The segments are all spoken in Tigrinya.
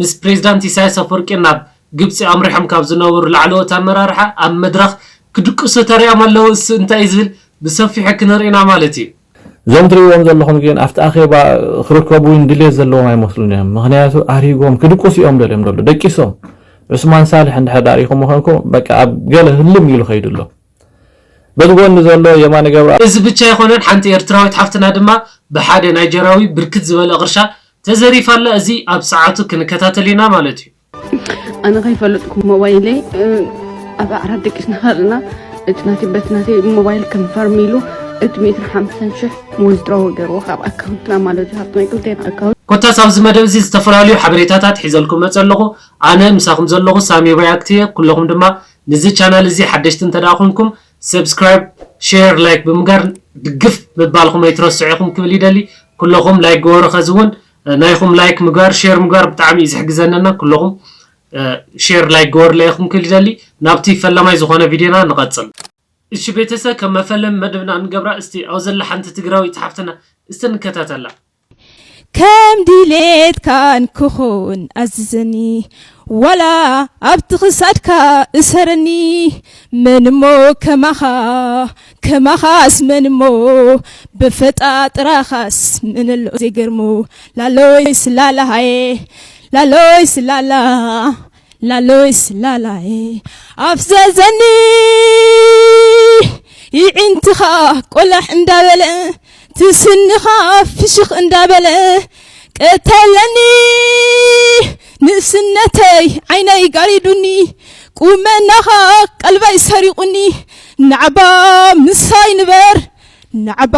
ምስ ፕሬዚዳንት ኢሳያስ ኣፍወርቂ ናብ ግብፂ ኣምሪሖም ካብ ዝነበሩ ላዕለዎት ኣመራርሓ ኣብ መድረኽ ክድቅሱ ተሪኦም ኣለው እሱ እንታይ እዩ ዝብል ብሰፊሑ ክንርኢ ኢና ማለት እዩ። እዞም ትሪእዎም ዘለኹም ግን ኣብቲ ኣኼባ ክርከቡ እውን ድሌት ዘለዎም ኣይመስሉን እዮም ምኽንያቱ ኣሪጎም ክድቅሱ እዮም ደልዮም ደሉ ደቂሶም ዑስማን ሳልሕ እንድሕር ሪኢኹሞ ኮንኩም በቃ ኣብ ገለ ህልም ኢሉ ከይዱ ኣሎ። በዚ ጎኒ ዘሎ የማነ ገብረኣብ። እዚ ብቻ ኣይኮነን ሓንቲ ኤርትራዊት ሓፍትና ድማ ብሓደ ናይጀርያዊ ብርክት ዝበለ ቅርሻ ተዘሪፋ ኣላ እዚ ኣብ ሰዓቱ ክንከታተል ኢና ማለት እዩ። ኣነ ከይፈለጥኩ ሞባይለይ ኣብ ኣዕራብ ደቂስና ከለና እቲ ናተይ በቲ ናተይ ሞባይል ከንፈርም ኢሉ እቲ ሚእትን ሓምሳን ሽሕ ዊዝድሮው ገይርዎ ካብ ኣካውንትና ማለት እዩ ሃብቲ ናይ ክልቴና ኣካውንት ኮታስ ኣብዚ መደብ እዚ ዝተፈላልዩ ሓበሬታታት ሒዘልኩም መጸ ኣለኹ። ኣነ ምሳኹም ዘለኹ ሳሚ ሪኣክት እየ ኩለኹም ድማ ንዚ ቻናል እዚ ሓደሽቲ እንተ ደኣ ኹንኩም Subscribe Share Like ብምጋር ድግፍ ምባልኹም ኣይትረስዑ ኢኹም ክብል ይደሊ ኩሎኹም Like ግበሩ ኸዚ ውን ናይኹም Like ምግባር Share ምግባር ብጣዕሚ እዩ ዝሕግዘኒ እና ኩሎኹም Share Like ግበሩለይ ኢኹም ክብል ይደሊ ናብቲ ፈላማይ ዝኾነ ቪድዮና ንቐጽል። እሺ ቤተሰብ ከም መፈለሚ መደብና እንገብራ እስቲ ኣብ ዘላ ሓንቲ ትግራወይቲ ሓፍትና እስቲ ንከታተላ። ከም ድሌትካን ክኹን ኣዝዘኒ ዋላ ኣብቲ ክሳድካ እሰረኒ መን እሞ ከማኻ ከማኻስ መን እሞ በፈጣጥራኻስ መን ኣሎ ዘይገርሞ ላሎይ ስላላ ሃየ ላሎይ ስላላ ላሎይስ ላላየ ኣፍዘዘኒ ይዒንትኻ ቆላሕ እንዳበለ ትስንኻ ፍሽኽ እንዳበለ ቀተለኒ ንእስነተይ ዓይነይ ጋሪዱኒ ቁመናኻ ቀልበይ ሰሪቑኒ ናዕባ ምሳይ ንበር ናዕባ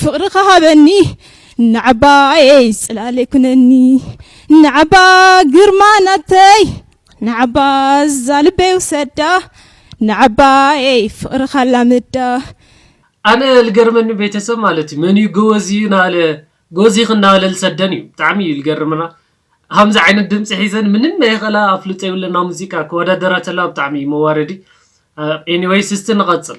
ፍቕርኻ ሃበኒ ንዓባየይ ጽላለይ ኩነኒ ንዓባ ግርማ ናተይ ንዓባ እዛ ልበይ ውሰዳ ንዓባየይ ፍቅርካ ኣላምዳ። ኣነ ልገርመኒ ቤተሰብ ማለት እዩ መን እዩ ጎበዝ እዩ ናበለ ጎዚክ ናበለ ልሰደን እዩ ብጣዕሚ እዩ ልገርመና ሀምዚ ዓይነት ድምፂ ሒዘን ምንም ናይ ኸላ ኣፍልጦ የብለን ናብ ሙዚቃ ክወዳደራ ተለዋ ብጣዕሚ እዩ መዋረዲ ኤኒወይስ እስቲ ንቀፅል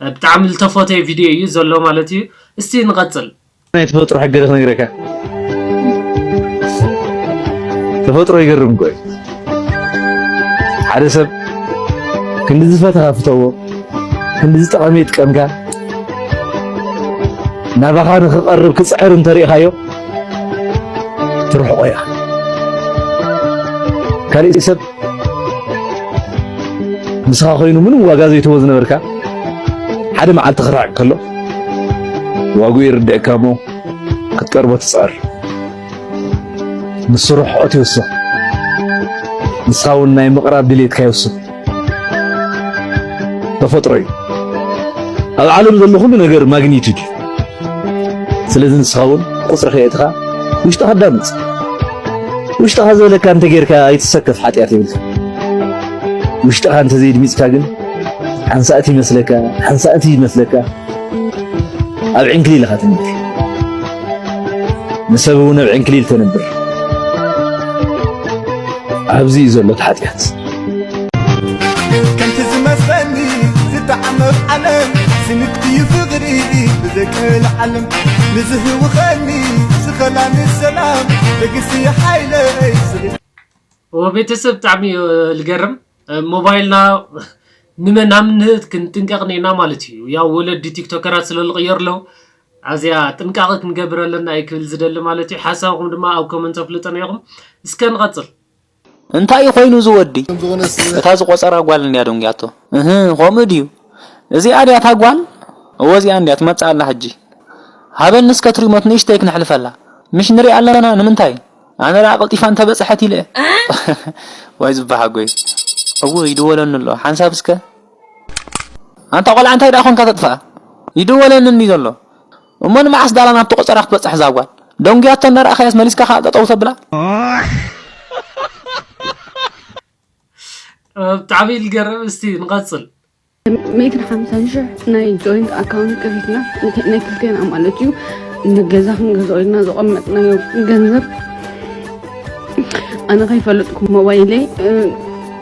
ብጣዕሚ ልተፎተየ ቪድዮ እዩ ዘሎ ማለት እዩ እስቲ ንቀጽል። ናይ ተፈጥሮ ሕገ ዶ ክነግረካ ተፈጥሮ ይገርም እኮ እዩ ሓደ ሰብ ክንዲ ዝፈተኻ ፍተዎ ክንዲ ዝጠቐመ ይጥቀምካ ናባኻ ንኽቐርብ ክፅዕር እንተሪእኻዮ ትርሕቆ ኢኻ ካሊእ ሰብ ምስኻ ኮይኑ ምንም ዋጋ ዘይትህቦ ዝነበርካ ሓደ መዓልቲ ክርሕቅ ከሎ ዋግኡ ይርድእካ እሞ ክትቀርቦ ትፅዕር ንሱ ርሕቀት ይውስኽ ንስኻ እውን ናይ ምቕራብ ድሌትካ ይውስኽ ተፈጥሮ እዩ ኣብ ዓለም ዘሎ ኩሉ ነገር ማግኒቱድ እዩ ስለዚ ንስኻ እውን ቁፅሪ ከየእትኻ ውሽጥኻ ኣዳምፅ። ውሽጥኻ ዝበለካ እንተጌርካ ኣይትሰከፍ ሓጢኣት የብልካ። ውሽጥኻ እንተዘይድሚፅካ ግን ሓንሳእቲ ይመስለካ ሓንሳእቲ ይመስለካ ኣብ ዕንክሊል ኢኻ ትነብር። ንሰብ እውን ኣብ ዕንክሊል ተነብር። ኣብዚ እዩ ዘሎ እቲ ሓጢኣት። ከምቲ ዝመስለኒ ዝተዓመፍ ዓለም ስንክትዩ ፍቕሪ ብዘይቀል ዓለም ንዝህውኸኒ ዝኸላኒ ሰላም ደግሲ ሓይለይ ቤተሰብ ብጣዕሚ እዩ ልገርም ሞባይልና ንመናምነት ክንጥንቀቕ ኔና ማለት እዩ ያው ወለዲ ቲክቶከራት ስለ ዝቕየሩ ኣለዉ ኣዚያ ጥንቃቐ ክንገብር ኣለና እዩ ክብል ዝደሊ ማለት እዩ ሓሳብኩም ድማ ኣብ ኮመንት ኣፍልጠና ኢኹም እስከ ንቐፅል እንታይ እዩ ኮይኑ እዚ ወዲ እታ ዝቆጸራ ጓል እንድያ ደንጉያቶ እህ ከምኡ ድዩ እዚኣ ድያ እታ ጓል እወ እዚኣ እንድያ ትመጽእ ኣላ ሕጂ ሃበኒ እስከ እቲ ሪሞት ንእሽተይ ክነሕልፈላ ምሽ ንሪኣ ኣለና ንምንታይ ኣነ ደኣ ቀልጢፋ እንተ በጽሐት ኢለ ዋይ ዝበሓጎይ እውይ ይድወለኒ ኣሎ ሓንሳብ እስከ ኣንታ ቆልዓ እንታይ ደኣ ኮንካ ተጥፍኣ ይድወለኒ እንድዩ ዘሎ እሞ ንመዓስ ዳላ ናብቲ ቆጸራ ክትበጽሕ እዛ ጓል? ደንጉያቶ እንዳ ረኣኻያስ መሊስካ ከኣ ጠጠው ተብላ። ብጣዕሚ እዩ ዝገርም እስቲ ንቐጽል ሚእትን ሓምሳን ሽሕ ናይ ጆይንት ኣካውንት ከፊትና ናይ ክልቴና ማለት እዩ ንገዛ ክንገዝኦ ኢልና ዘቐመጥናዮ ገንዘብ ኣነ ከይፈለጥኩ ሞባይለይ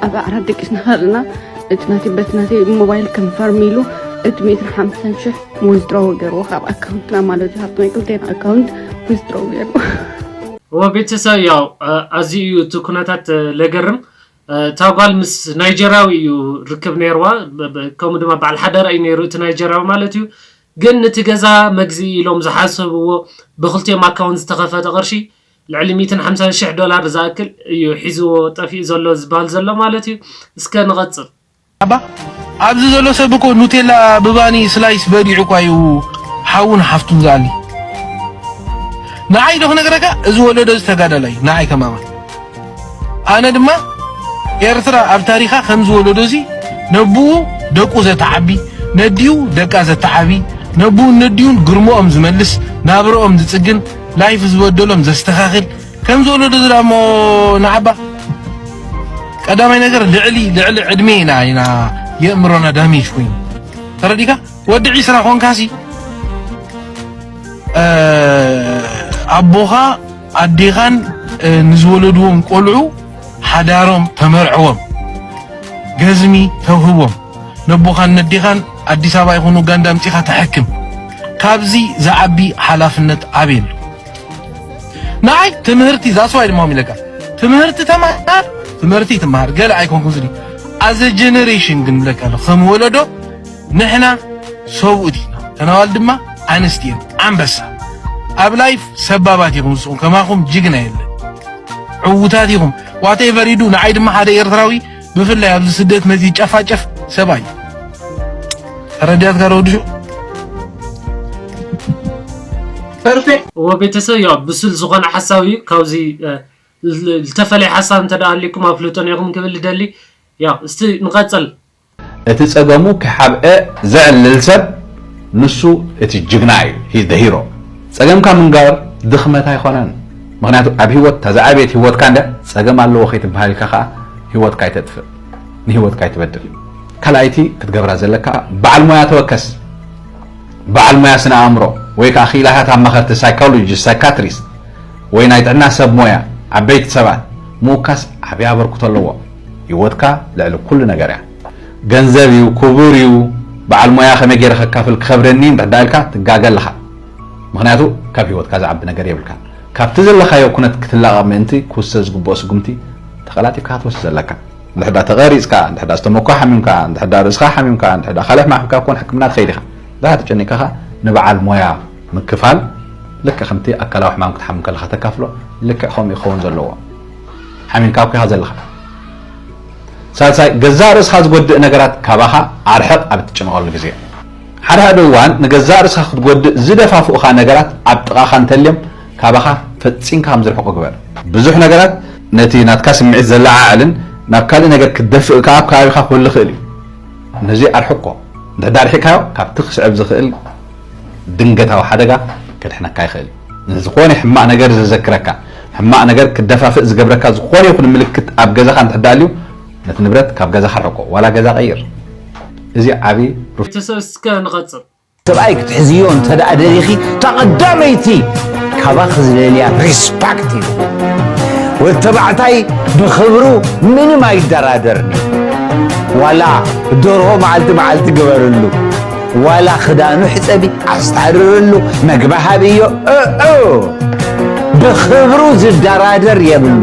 ኣብ ኣዕራት ደቂስና ከለና እቲ ናተይ በቲ ናተይ ሞባይል ከንፈርም ኢሉ እቲ ሚእትን ሓምሳን ሽሕ ዊዝድሮ ገይርዎ ካብ ኣካውንት ናብ ማለት ዝሃብቶ ናይ ክልቴና ኣካውንት ዊዝድሮ ገይርዎ እወ ቤተሰብ ያው ኣዝዩ እዩ እቲ ኩነታት ለገርም እታ ጓል ምስ ናይጀርያዊ እዩ ርክብ ነይርዋ ከምኡ ድማ በዓል ሓዳራ እዩ ነይሩ እቲ ናይጀርያዊ ማለት እዩ ግን ነቲ ገዛ መግዚ ኢሎም ዝሓሰብዎ ብክልቲኦም ኣካውንት ዝተኸፈተ ቅርሺ ልዕሊ ሚእትን ሓምሳን ሽሕ ዶላር ዝኣክል እዩ ሒዝዎ ጠፊኡ ዘሎ ዝበሃል ዘሎ ማለት እዩ እስከ ንቐፅል ኣባ ኣብዚ ዘሎ ሰብ እኮ ኑቴላ ብባኒ ስላይስ በሊዑ እኳ እዩ ሓውን ሓፍቱን ዝኣሊ። ንዓይ ዶ ክነግረካ እዚ ወለዶ እዚ ተጋዳላይ እዩ ንዓይ ከማማ ኣነ ድማ ኤርትራ ኣብ ታሪኻ ከምዚ ወለዶ እዚ ነብኡ ደቁ ዘተዓቢ ነዲኡ ደቃ ዘተዓቢ ነብኡን ነዲኡን ግርሞኦም ዝመልስ ናብረኦም ዝጽግን ላይፍ ዝበደሎም ዘስተኻኽል ከምዚ ወለዶ እዚ ደኣሞ ንዓባ ቀዳማይ ነገር ልዕሊ ልዕሊ ዕድሜ ኢና ኢና የእምሮና ዳሜጅ ኮይኑ ተረዲካ ወዲ ዒስራ ኮንካሲ ኣቦኻ ኣዴኻን ንዝወለድዎም ቆልዑ ሓዳሮም ተመርዕዎም ገዝሚ ተውህቦም ነቦኻን ነዴኻን ኣዲስ ኣበባ ይኹኑ ጋንዳ ኣምፂኻ ተሐክም ካብዚ ዝዓቢ ሓላፍነት ኣበይ ኣሎ ንዓይ ትምህርቲ ዛስዋይ ድማ ሚለካ ትምህርቲ ተማሃር ትምህርቲ ትማሃር ገለ ኣይኮንኩ ዝኒ ኣዘ ጀነሬሽን ግን ብለካ ኣሎ ከም ወለዶ ንሕና ሰብኡት ኢና ተናዋል ድማ ኣንስቲ እየን ኣንበሳ ኣብ ላይፍ ሰባባት ኢኹም ንስኹም ከማኹም ጅግና የለን ዕውታት ኢኹም ዋቴቨር ይዱ ንዓይ ድማ ሓደ ኤርትራዊ ብፍላይ ኣብዚ ስደት ነዚ ጨፋጨፍ ሰብኣይ ረዳት ጋር ወድሹ ፐርፌክት እዎ ቤተሰብ ያው ብሱል ዝኾነ ሓሳብ እዩ ካብዚ ዝተፈለየ ሓሳብ እንተ ኣልኩም ኣፍልጦ ኔኹም ክብል ደሊ ያው እስቲ ንቐጽል እቲ ጸገሙ ክሓብኤ ዘዕልል ሰብ ንሱ እቲ ጅግና እዩ ሂዝ ሂሮ ጸገምካ ምንጋር ድኽመት ኣይኮነን። ምኽንያቱ ኣብ ሂወት እታ ዝዓበየት ሂወትካ እንድያ ጸገም ኣለዎ ከይትብሃል ኢልካ ከኣ ሂወትካ ኣይተጥፍእ ንሂወትካ ኣይትበድል ካልኣይቲ ክትገብራ ዘለካ በዓል ሞያ ተወከስ በዓል ሞያ ስነ ኣእምሮ ወይ ከኣ ክኢላታት ኣማኸርቲ ሳይኮሎጂስት ሳይካትሪስት ወይ ናይ ጥዕና ሰብ ሞያ ዓበይቲ ሰባት ምውካስ ዓብይ ኣበርክቶ ኣለዎ ሂወትካ ልዕሊ ኩሉ ነገር እያ ገንዘብ እዩ ክቡር እዩ በዓል ሞያ ከመይ ገይረ ከካፍል ክኸብደኒ እንድሕዳ ኢልካ ትጋገ ኣለኻ ምኽንያቱ ካብ ህይወትካ ዝዓቢ ነገር የብልካን። ካብቲ ዘለኻዮ ኩነት ክትላቐቕ ምእንቲ ክውሰድ ዝግብኦ ስጉምቲ ተቐላጢፍካ ክትወስድ ኣለካ። እንድሕዳ ተቐሪጽካ፣ እንድሕዳ ዝተመኮ ሓሚምካ፣ እንድሕዳ ርእስኻ ሓሚምካ፣ እንድሕዳ ካልሕ ማሕብካ ኮን ሕክምና ትኸይድ ኢኻ። እንድሕዳ ተጨኒቕካ ከኣ ንበዓል ሞያ ምክፋል ልክዕ ከምቲ ኣካላዊ ሕማም ክትሓምም ከለኻ ተካፍሎ ልክዕ ከምኡ ክኸውን ዘለዎ። ሓሚምካ እኮ ኢኻ ዘለኻ። ሳልሳይ ገዛእ ርእስኻ ዝጎድእ ነገራት ካባኻ ኣርሕቕ ኣብ እትጭነቐሉ ግዜ። ሓደ ሓደ እዋን ንገዛእ ርእስኻ ክትጎድእ ዝደፋፍኡኻ ነገራት ኣብ ጥቓኻ እንተልዮም ካባኻ ፈጺምካ ከም ዝርሕቁ ግበር። ብዙሕ ነገራት ነቲ ናትካ ስምዒት ዘለዓዕልን ናብ ካልእ ነገር ክትደፍእ ከኣ ኣብ ከባቢኻ ክህሉ ይኽእል እዩ። ነዚ ኣርሕቆ። እንተ ኣርሒቕካዮ ካብቲ ክስዕብ ዝኽእል ድንገታዊ ሓደጋ ከድሕነካ ይኽእል እዩ። ንዝኾነ ሕማቕ ነገር ዘዘክረካ፣ ሕማቕ ነገር ክትደፋፍእ ዝገብረካ ዝኾነ ይኹን ምልክት ኣብ ገዛኻ እንተ ኣልዩ ነቲ ንብረት ካብ ገዛኻ ኣርሕቆ ዋላ ገዛ ቀይር እዚ ዓቢ ቤተሰብ እስከ ንቐጽል። ሰብኣይ ክትሕዝዮ እንተ ደሊኺ እታ ቀዳመይቲ ካባኺ ዝደልያ ሪስፓክት እዩ። ወዲ ተባዕታይ ብኽብሩ ምንም ኣይደራደርን እዩ። ዋላ ደርሆ መዓልቲ መዓልቲ ግበርሉ፣ ዋላ ክዳኑ ሕጸቢ ኣስታርርሉ፣ መግቢ ሃብዮ እእ ብኽብሩ ዝደራደር የብሉ።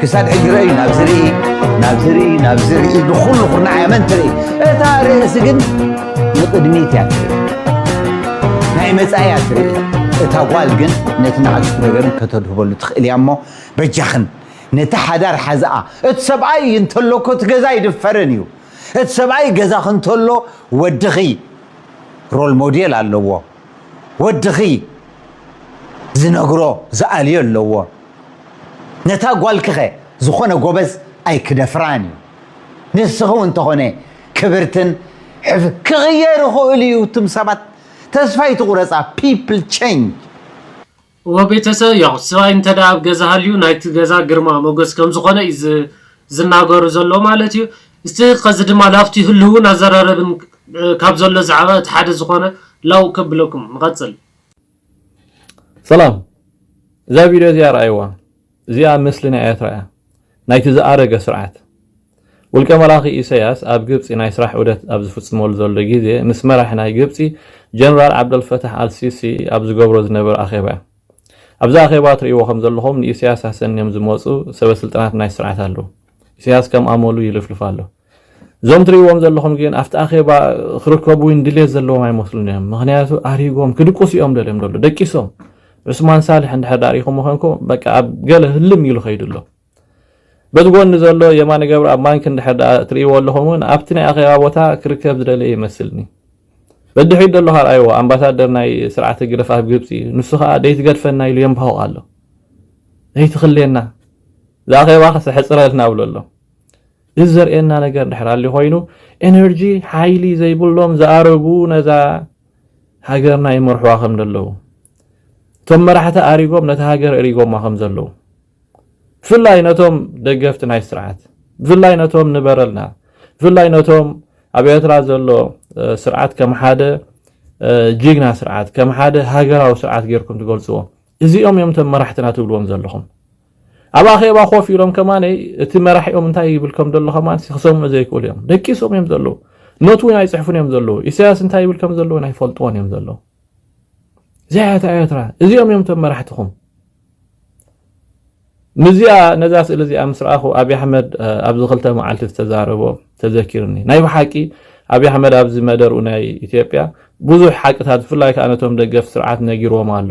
ክሳድ ሕጂ ረእዩ ናብ ዝርኢ ናብ ዝርኢ ናብ ዝርኢ ንኹሉ ኩርናዕ እያ መን ትርኢ እታ ርእሲ ግን ንቕድሚት እያ ትርኢ ናይ መጻኢ እያ ትርኢ እታ ጓል ግን ነቲ ንኣሽቱ ነገርን ከተድህበሉ ትኽእል እያ እሞ በጃኽን ነቲ ሓዳር ሓዝኣ እቲ ሰብኣይ እዩ እንተሎኮ እቲ ገዛ ይድፈርን እዩ እቲ ሰብኣይ ገዛኽ እንተሎ ወድኺ ሮል ሞዴል ኣለዎ ወድኺ ዝነግሮ ዝኣልዮ ኣለዎ። ነታ ጓልኪኸ ዝኾነ ጎበዝ ኣይክደፍራን እዩ። ንስኺ እውን ተኾነ ክብርትን ሕፍ ክቕየር ይኽእል'ዩ እቱም ሰባት ተስፋ ኣይትቑረጻ people change። እወ ቤተሰብ ያው ስባይ እንተ ኣብ ገዛ ሃልዩ ናይቲ ገዛ ግርማ ሞገስ ከም ዝኾነ እዩ ዝናገሩ ዘሎ ማለት እዩ እስቲ ከዚ ድማ ላፍቲ ህልውን ኣዘራረብን ካብ ዘሎ ዛዕባ እቲ ሓደ ዝኾነ ላው ከብለኩም ንቐጽል ሰላም እዛ ቪድዮ እዚኣ ረኣይዋ እዚኣ ምስሊ ናይ ኤርትራ እያ ናይቲ ዝኣረገ ስርዓት። ውልቀ መላኺ ኢሰያስ ኣብ ግብጺ ናይ ስራሕ ዑደት ኣብ ዝፍጽመሉ ዘሎ ግዜ ምስ መራሒ ናይ ግብጺ ጀነራል ዓብደልፈታሕ ኣል ሲሲ ኣብ ዝገብሮ ዝነበረ ኣኼባ እዩ። ኣብዚ ኣኼባ ትርእይዎ ከም ዘለኹም ንኢሰያስ ኣሰንዮም ዝመጹ ሰበ ስልጣናት ናይ ስርዓት ኣለዉ። ኢሰያስ ከም ኣመሉ ይልፍልፍ ኣሎ። እዞም ትርእይዎም ዘለኹም ግን ኣብቲ ኣኼባ ክርከቡ እውን ድሌት ዘለዎም ኣይመስሉን እዮም ምክንያቱ ኣሪጎም ክድቅሱ እዮም ደልዮም ደሎ ደቂሶም ዑስማን ሳልሕ እንድሕር ዳሪኹም ኮንኩ በቃ ኣብ ገለ ህልም ኢሉ ከይዱ ኣሎ በዚ ጎኒ ዘሎ የማነ ገብረ ኣብ ማንኪ እንድሕር ዳ ትርእይዎ ኣለኹም እውን ኣብቲ ናይ ኣኼባ ቦታ ክርከብ ዝደለየ ይመስልኒ በድሕሪት ዘሎ ካልኣይዎ ኣምባሳደር ናይ ስርዓት ህግደፍ ኣብ ግብፂ ንሱ ከዓ ደይትገድፈና ኢሉ የንባሆቕ ኣሎ ደይትኽልየና ዝኣኼባ ከሰሕፅረልና ብሎ ኣሎ እዚ ዘርእየና ነገር ድሕር ኣሊ ኮይኑ ኤነርጂ ሓይሊ ዘይብሎም ዝኣረጉ ነዛ ሃገርና ይመርሕዋ ከም ዘለዉ እቶም መራሕቲ ኣሪጎም ነቲ ሃገር እሪጎማ ከም ዘለዉ ብፍላይ ነቶም ደገፍቲ ናይ ስርዓት ብፍላይ ነቶም ንበረልና ብፍላይ ነቶም ኣብ ኤርትራ ዘሎ ስርዓት ከም ሓደ ጅግና ስርዓት ከም ሓደ ሃገራዊ ስርዓት ጌርኩም ትገልጽዎ እዚኦም እዮም እቶም መራሕትና ትብልዎም ዘለኹም ኣብ ኣኼባ ኮፍ ኢሎም ከማን እቲ መራሒኦም እንታይ ይብል ከም ዘሎ ከማን ክሰምዑ ዘይክእሉ እዮም። ደቂሶም እዮም ዘለዉ። ኖት እውን ኣይፅሕፉን እዮም ዘለዉ። ኢሳያስ እንታይ ይብል ከም ዘለዎ ናይ ፈልጥዎን እዮም ዘለዉ። እዚኣ እያ ኤርትራ። እዚኦም እዮም እቶም መራሕትኹም። ንዚኣ ነዛ ስእሊ እዚኣ ምስ ረኣኹ ኣብዪ ኣሕመድ ኣብዚ ክልተ መዓልቲ ዝተዛረቦ ተዘኪርኒ። ናይ ብሓቂ ኣብዪ ኣሕመድ ኣብዚ መደርኡ ናይ ኢትዮጵያ ብዙሕ ሓቅታት ብፍላይ ከዓ ነቶም ደገፍ ስርዓት ነጊርዎም ኣሎ።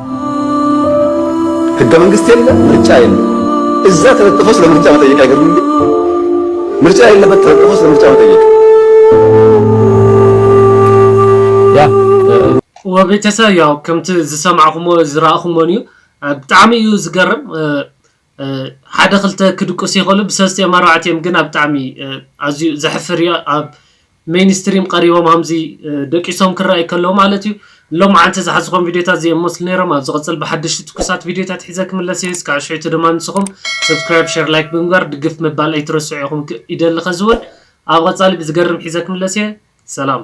ህገ መንግስት የለ፣ ምርጫ የለ። እዛ ተለጥፎ ስለ ምርጫ መጠየቅ አይገርምም? ምርጫ የለበት ተለጥፎ ስለ ምርጫ መጠየቅ ወገተሰብ ያው ከምቲ ዝሰማዕኩሞ ዝረኣኹሞን እዩ ብጣዕሚ እዩ ዝገርም። ሓደ ክልተ ክድቅሱ ይክእሉ ብሰልስቲኦም ኣርባዕቲኦም ግን ኣብ ብጣዕሚ ኣዝዩ ዘሕፍር እዩ ኣብ ሜይን ስትሪም ቀሪቦም ሃምዚ ደቂሶም ክረኣዩ ከለዉ ማለት እዩ ሎምዓንቲ ዝሓዝኾም ቪድዮታት እዚኦም መስሉ ነይሮም ኣብ ዝቅጽል ብሓደሽቲ ትኩሳት ቪድዮታት ሒዘ ክምለስ እየ እስካዕ ሽሕቱ ድማ ንስኹም ሰብስክራይብ ሸር ላይክ ብምግባር ድግፍ ምባል ኣይትረስዑ ኢኹም ይደሊ ከዚ ውን ኣብ ቀጻሊ ብዝገርም ሒዘ ክምለስ እየ ሰላም።